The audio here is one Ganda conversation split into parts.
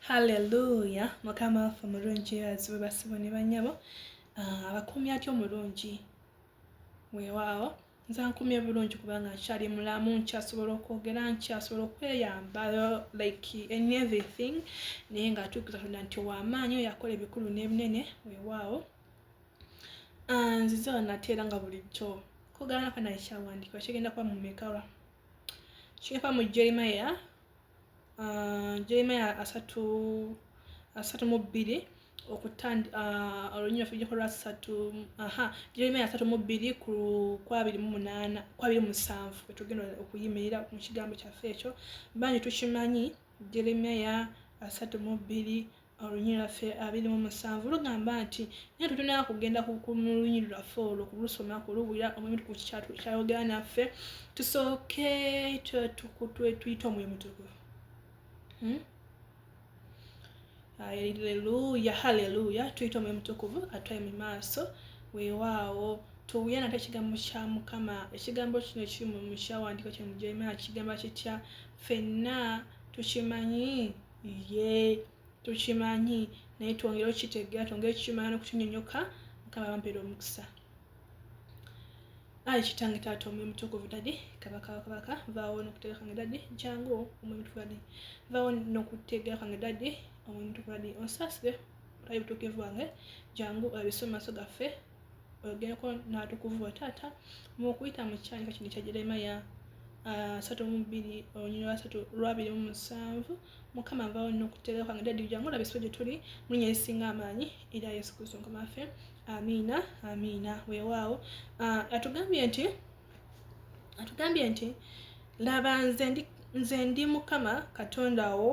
Hallelujah mukama waffe mulungi azibwe basibo ne banyabo ah, abakumya atyo mulungi wewaawo nze nkumye bulungi kubanga nkyali mulamu nkyasobola okwogera nkyasobola okweyamba like in everything naye nga atuukiza tonda nti owamaanyi oyo akola ebikulu n'ebinene wewaawo ah, nzize wanateera nga bulijjo kugana kanaekyawandikwa kigenda kuba mumekawa kigenda kuba mu jeremiya jeremaya asatu asatu mu bbiri okutandi olunyi lwaffe lujja kuba lwasatu aha jeremaya asatu mu bbiri ku kwabiri mu munaana kwabiri mu musanvu wetugenda okuyimirira mu kigambo kyaffe ekyo bangi tukimanyi jeremaya asatu mu bbiri Olunyi lwaffe abiri mu musanvu lugamba nti naye tutunaa kugenda mu lunyi lwaffe olwo kulusoma kuluwulira omwoyo ku kyayogera naffe tusooke tuyite omwoyo mutukuvu hmm? aleluya haleluya tuyite omwoyo mutukuvu atwaye mu maaso weewaawo tuwuye nate ekigambo kya mukama ekigambo kino kiri mu kyawandiiko kino mu jeremiya kigamba kitya fenna tukimanyi ye tukimanyi naye twongere okukitegeera twongere okukimanya n'okukinyonyoka mukama bampeera omukisa ayi kitange taata omwoyo mutukuvu dadi kabaka wakabaka vaawo nokutegeera kwange dadi jangu omwoyo mutukuvu dadi vaawo nokutegeera kwange dadi omwoyo mutukuvu dadi onsasire olabe butuukivu bwange jangu olabise mu maaso gaffe oyogereko n'atukuvu bo taata mu okuyita mu kikyandika kino kya jeremaya asatu mu bbiri olunyiri lwasatu lwabiri mu musanvu mukama nvawo nina okuteerera kwange dadi jangu olaba esibo gye tuli mulinya esinga amaanyi era yesu kristo mukama waffe amiina amiina weewaawo ah, atugambye nti atugambye nti laba nze ndi mukama katonda wo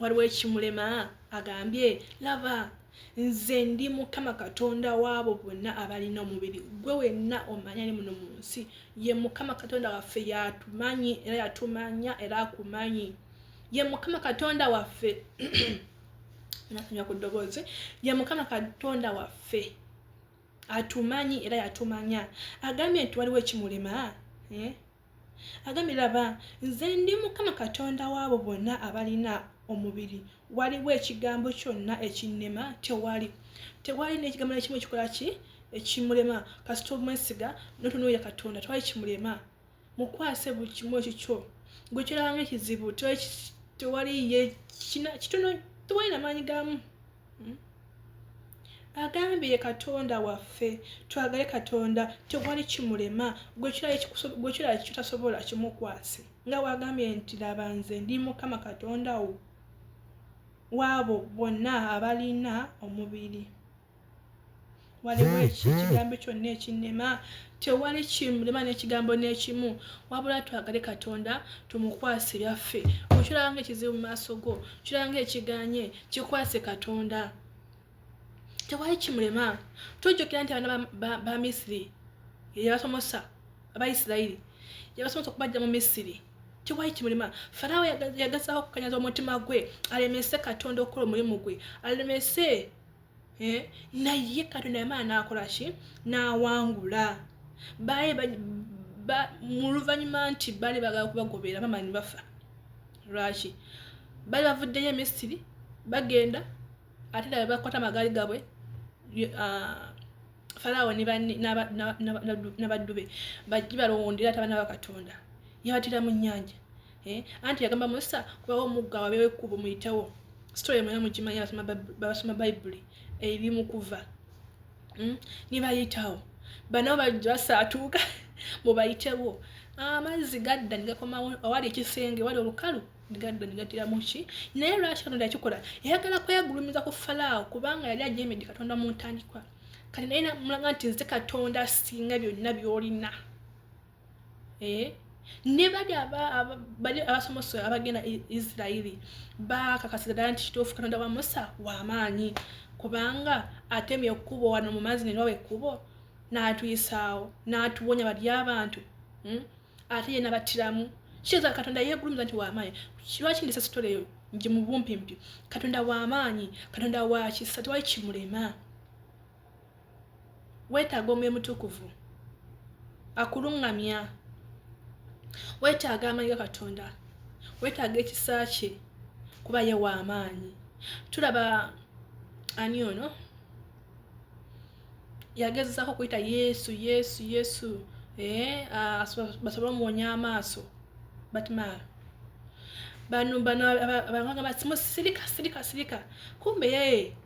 waliwo ekimulema agambye laba nze ndi mukama katonda waabo bonna abalina omubiri gwe wenna omanya ni muno mu nsi ye mukama katonda waffe yatumanyi era yatumanya era akumanyi ye mukama katonda waffe nasomya ku ddoboozi ye mukama katonda waffe atumanyi era yatumanya agambye nti waliwo ekimulema eh? agambye laba nze ndi mukama katonda waabo bonna abalina omubiri waliwo ekigambo kyonna ekinnema tewali tewali nekigambo nekimu ekikola ki ekimulema kasita omwesiga notunuulira katonda tewali kimulema mukwase buli kimu ekikyo gwe kyolabamu ekizibu tewali ye kina kitono tewali namaanyi gaamu hmm? agambye katonda waffe twagale katonda tewali kimulema gwekirala kitasobola kimukwase nga wagambye nti laba nze ndi mukama katonda wo waabo bonna abalina omubiri waliwo ekigambo kyonna ekinnema tewali kimulema n'ekigambo n'ekimu wabula twagale katonda tumukwase byaffe okiranga ekizibu mu maaso go kiranga ekiganye kikwase katonda tewali kimulema tujjukira nti abaana ba misiri yeyabasomosa abaisirairi yebasomosa okubajja mu misiri tewali kimulema farawo yagazaho okukanyaza omutima gwe alemese katonda okukola omulimu gwe alemese eh, naye katonda yamala nakolaki nawangula baali muluvanyuma nti baali bagala kubagobera mama nibafa lwaki baali bavuddeyo emisiri bagenda ate nabe bakwata amagaali gabwe ah, falawo nabaddube bajji balowondera ati abana bakatonda yabatira mu nyanja eh, anti yagamba musa kubawo omugga wabewo ekkubo muyitewo story mwena mugimanyi basoma bayibuli eri mukuva hmm? nibayitawo bano basaatuuka mubayitewo amazzi gadda nigakomawo awali ekisenge wali olukalu gadda nigatira muki naye lwaki katonda yakikola yayagala kwegulumiza ku falaawo kubanga yali ajemedde katonda mu ntandikwa kati naye namulaga nti nze katonda asinga byonna byolina eh? ne bali abasomoso abagenda e isirairi bakakasiza ddala nti kituufu katonda wa musa wamaanyi kubanga atemye ekkubo wano mu maazi nenawa ekkubo n'atuyisaawo n'atuwonya bali abantu hmm? ate ye nabattiramu kiza katonda yegulumiza nti wamaanyi lwaki ndisa sitole eyo nje mu bumpimpi katonda wamaanyi katonda wakisa tewali kimulema weetaaga omwoyo mutukuvu akuluŋŋamya weetaaga amanyi ga katonda weetaaga ekisa kye kuba ye waamaanyi tulaba ani ono yagezezaako okuyita yesu yesu yesu eh, ah, basobole omuwonya amaaso batmar bano bano abagamba simusirika sirika sirika kumbe yee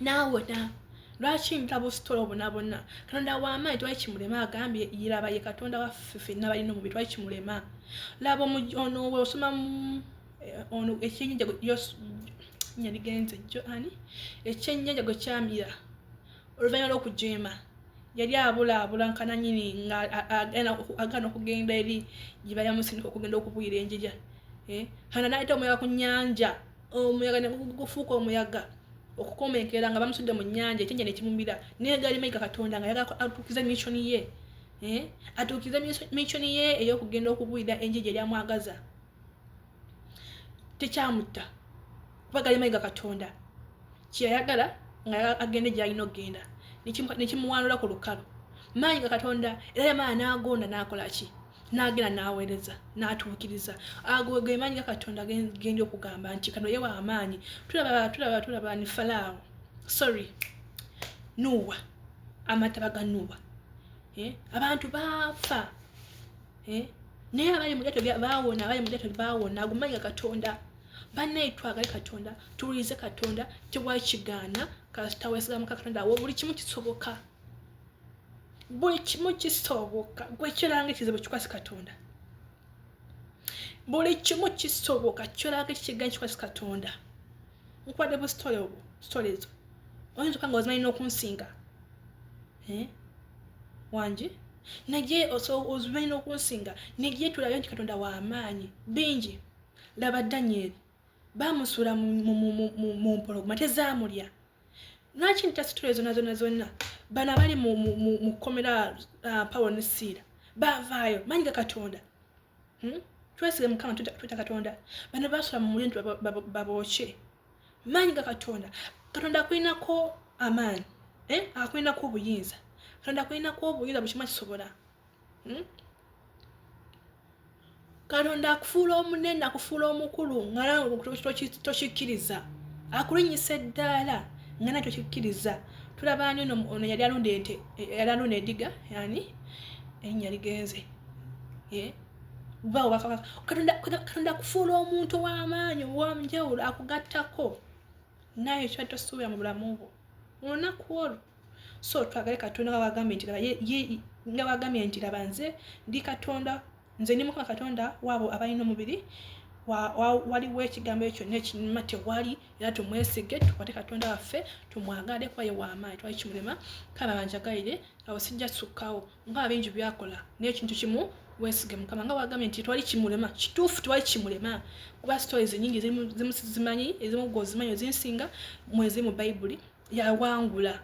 n'awona lwaki nta busitolo obonabona katonda wamaanyi twali kimulema agambye yiraba ye katonda waffe fenna balina omubiri twali kimulema laba ono we osoma eh, ono ekyenyanja yaligenze jo ani ekyenyanja gwe kyamira oluvannyuma lw'okujeema yali abulaabula nkananyini nga agaana okugenda eri gyebayamusindika okugenda okubwira enjija eh, hana naayita omuyaga ku nyanja omuyaga ne gufuuka omuyaga okukomenkera nga bamusudde mu nnyanja ekyenja ne kimumira naye gaali mayiga katonda nga yagala atuukize missioni ye eh? atuukize missioni ye ey'okugenda okubuulira enjiji eryamwagaza tekyamutta kuba gaali mayiga katonda kyeyayagala nga agende gyalina okugenda nekimuwanula ku lukalu maanyi ga katonda era yamala n'agonda n'akola ki n'agenda n'aweereza n'atuukiriza ago ge maanyi ga katonda genda okugamba nti kano yewa amaanyi tulaba tulaba tulaba ni falaawo sorry nuuwa amataba ga nuuwa eh? abantu baafa eh? naye abali mulyato bawona abali mulyato bawona ago maanyi ga katonda banaye twagale katonda tuwulirize katonda tewakigaana kasita wesigamuka katonda wo buli kimu kisoboka buli kimu kisoboka gwe kiranga ekizibu kikwasi katonda buli kimu kisoboka kiranga ekikiganyi kikwasi katonda nkwadde bu story obwo story ezo oyinza okanga ozimanyi n'okunsinga eh? wangi naye ozimanyi n'okunsinga naye tulabe nti katonda w'amaanyi bingi laba danyeri bamusuula mu mpologoma tezaamulya lwaki ntasitula ezona zona zonna bano abali mu kkomera uh, pawo ne siira bavaayo manyi ga katonda hmm? twesige mukama tweta katonda bano basula mu mulindu babooke manyi ga katonda katonda akulinako amaanyi eh? akulinako obuyinza katonda akulinako obuyinza buli kimu akisobola hmm? katonda akufuula omunene akufuula omukulu nga tokikkiriza akulinyisa eddaala nga nakyo kikkiriza tulaba ani ono yali alunda ente yali alunda ediga yani erinnya ligenze bawo bakabaka katonda akufuula omuntu ow'amaanyi ow'omugyawulo akugattako naye ekyo tosuubira mu bulamu bwo olunaku olwo so twagale katonda wawagambye nti nga wagambye nti laba nze ndi katonda nze ndi mukama katonda waabo abalina omubiri waliwo ekigambo ekyo nekinuma tewali era tumwesige tukwate katonda waffe tumwagale kuba ye wamaanyi twali kimulema kale banjagalire awo sijja sukkawo nga abingi byakola naye ekintu kimu wesige mukama nga wagambye nti twali kimulema kituufu twali kimulema kuba stories nyingi zimu sizimanyi ezimu gwe ozimanyi ozinsinga mwezi mu bayibuli yawangula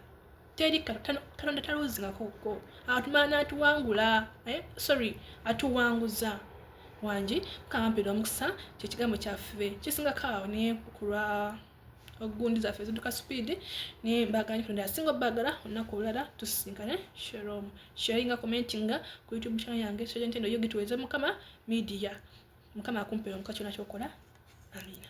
teri katonda taluzingakoko atumana atuwangula eh, sorry atuwanguza wangi mukama mpera omukisa kyekigambo kyaffe kisingako awo naye kulwa ogundi zaffe ziduka sipiidi naye mbaganye kutonda asinga obbagala olunaku olulala tusisinkane sherom sharinga commentinga ku youtube channel yange sejentendo yo gituweze mukama media mukama akumpera omuka kyona kyokola amina